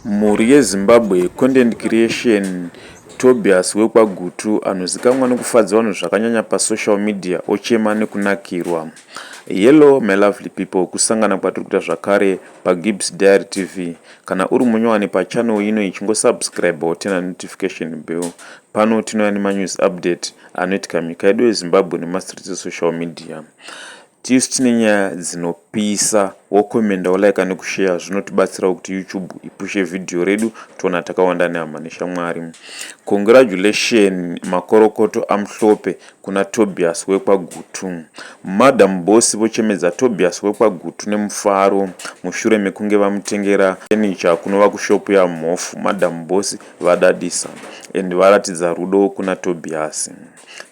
Mhuri yeZimbabwe Content Creation Tobias wekwaGutu anozikamwa nekufadza vanhu zvakanyanya pasocial media ochema nekunakirwa. Hello my lovely people kusangana kwatiri kuita zvakare paGibbs Diary TV. Kana uri munyowani pachannel ino iyi chingosubscribe wotena notification bell. Pano tinouya nemanews update anoitika munyika yedu yeZimbabwe nemastreets esocial media. Tisu tine nyaya dzinopisa wokomenda wolaika nekusheya zvinotibatsirawo kuti YouTube ipushe video redu toona takawanda nehama neshamwari. Congratulation makorokoto aMhlope kuna Tobias wekwaGutu. Madam boss vochemedza Tobias wekwaGutu nemufaro mushure mekunge vamutengera furniture kunova kushop yaMhofu. Madam boss vadadisa and varatidza rudo kuna Tobias.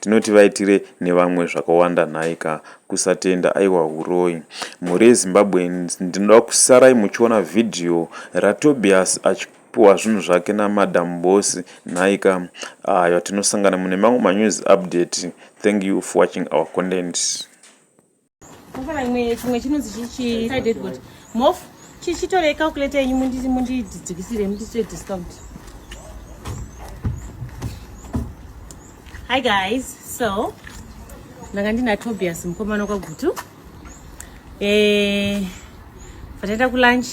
Tinoti vaitire nevamwe zvakawanda nhai ka kusatenda aiwa huroyi. Mhuri yeZimbabweans ndinoda kusarai muchiona video raTobias achipuhwa zvinhu zvake namadam boss nhai ka ayo tinosangana mune mamwe manews update thank you for watching our content. Mafana imwe chimwe chinonzi chichi sided good. Mof chichitore calculator yenyu mundi mundi dzidzikisire mundi swe discount. Hi guys. So ndanga ndina Tobias mukomana kwaGutu. Eh vataenda kulunch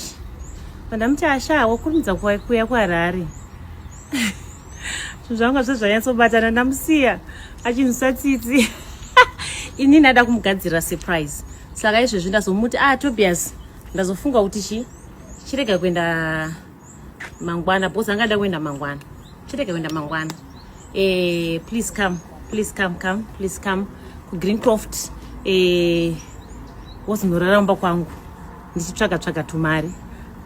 vandamuti asha wakurumidza kuuya kuharare zvinhu zvanga zve zvanyatsobatana ndamusiya achinzwisa tsitsi ini ndada kumugadzirira surprise saka izvezvi ndazomuti ah tobias ndazofunga kuti chi chirega kuenda mangwana because angada kuenda mangwana chirege kuenda mangwana eh, please come please come come please come kugreencroft eh, wozinorara mumba kwangu ndichitsvaga tsvaga tumari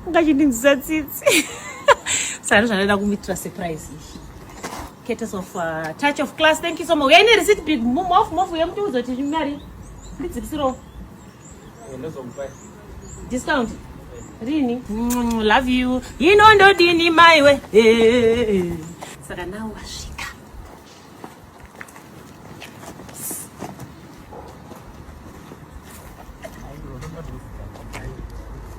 ungachindinzisa tsitsi saka ndozvandaida kumitira surprise izvi courtesy of uh, touch of class thank you so much uyaine receipt big move move yemuti uzotiimari ndidzikisirowo Discount. Rini. Mm, love you. Ino ndo dini maiwe. Eh. Saka nao wasvika.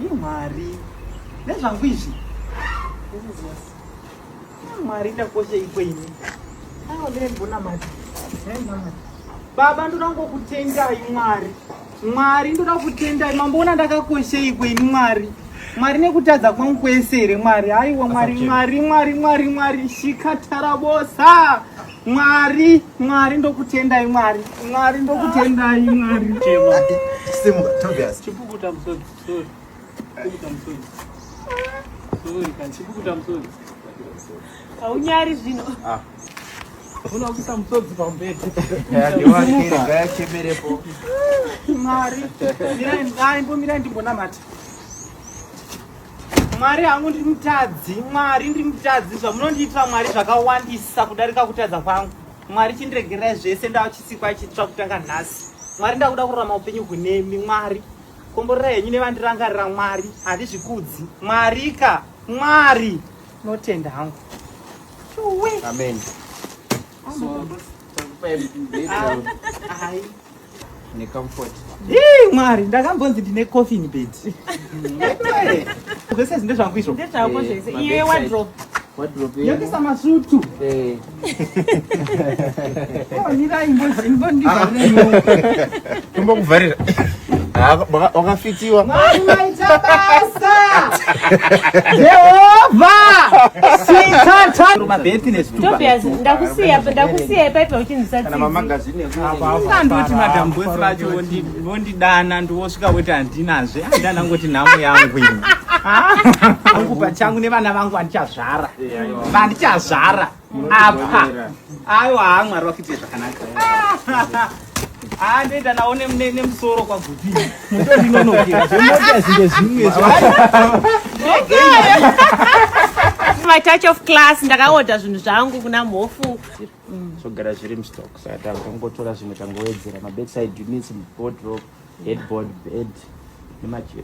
imwari nezvangu izvi mwari ndakosha iko ini aonembonamati baba ndoda ngokutendai mwari Mwari ndoda kutendai mamboona ndakakosheiko ini Mwari Mwari nekutadza kwangu kwese here Mwari haiwa Mwari Mwari Mwari Mwari Mwari shikatarabosa Mwari Mwari ndokutendai Mwari Mwari ndokutendai Mwari Simuka Tobias chipukuta musodzi sorry chipukuta musodzi sorry kan chipukuta musodzi Haunyari zvino. Ah. Unakuisa msodzi pambedzi. Ngayachemerepo. Mwari. Mirai mdai mbomirai ndimbonamata. Mwari hangu ndiri mutadzi. Mwari ndiri mutadzi. Zvamunondiitira Mwari zvakawandisa kudarika kutadza kwangu. Mwari chindiregererai zvese ndava chisikwa chitsva kutanga nhasi. Mwari ndakuda kurarama upenyu hunemi Mwari. Komborera henyu nevandirangarira Mwari. Handizvikudzi. Mwarika. Mwari. Notenda hangu. Amen. So, necomfort hii mwari ndakambonzi ndine coffin bed zvese zinde zvangu izvo ndezvako zvese iye wadrop wadrop yokisa masutu eh. tombokuvharira wakafitiwa maita basa jehovha sitatarumabetinestakusiya ndakusiya ipaipa uchinzisa andoti madam bosi vacho vondidana ndiwosvika woti handinazve andana ngoti nhamo yangu ini angu pachangu nevana vangu andichazvara vandichazvara apa aiwa haa mwari vakuitire zvakanaka andoenda nawo nemusoro kwaguti mutondinonokera zvemota zvinge zvimwe my touch of class ndakaoda zvinhu zvangu kuna mhofu zvogara zviri mustock saka tangotora zvimwe tangowedzera mabedside units mubodrop headboard bed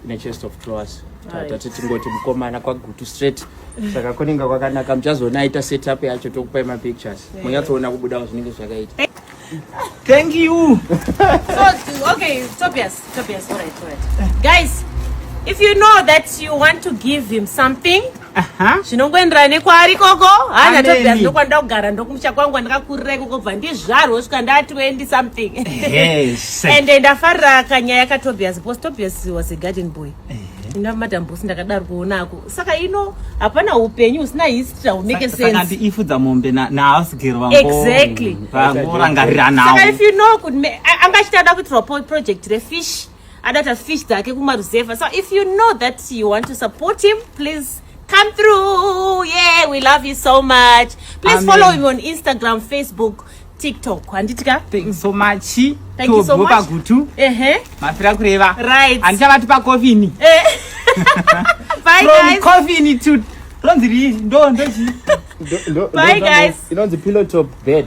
nechest of drawers tatati tingoti mukomana kwagutu straight saka kunenge kwakanaka muchazoona aita setup yacho tokupai mapictures munyatsoona kubudawo zvinenge zvakaita thank you so okay tobias tobias all right, all right. guys if you know that you want to give him something zvinongoenderana nekwaari ikoko hana tobia ndokwandoda kugara ndokumusha kwangu kwandakakurira ikoko bva ndizvarwo svika ndati wendi something and ndafarira kanyaya katobias bcause tobias was a garden boy ina madam bosi ndakadaro kuona ako saka ino hapana upenyu usina history haumeke sense ifudza mombe nahouse girl vangu exactly vangu rangarira nawo saka if you know kuti anga achitanda kuitirwa project refish adata fish dzake kumaruzevha so if you know that you want to support him please come through yeah we love you so much please Amen. follow him on instagram facebook tiktok handiti ka thank you so much thank you so much pagutu ehe mafira kureva right handichavati pakofini eh. bye from guys. coffin to ronzi rii ndo ndochi bye guys inonzi pillow top bed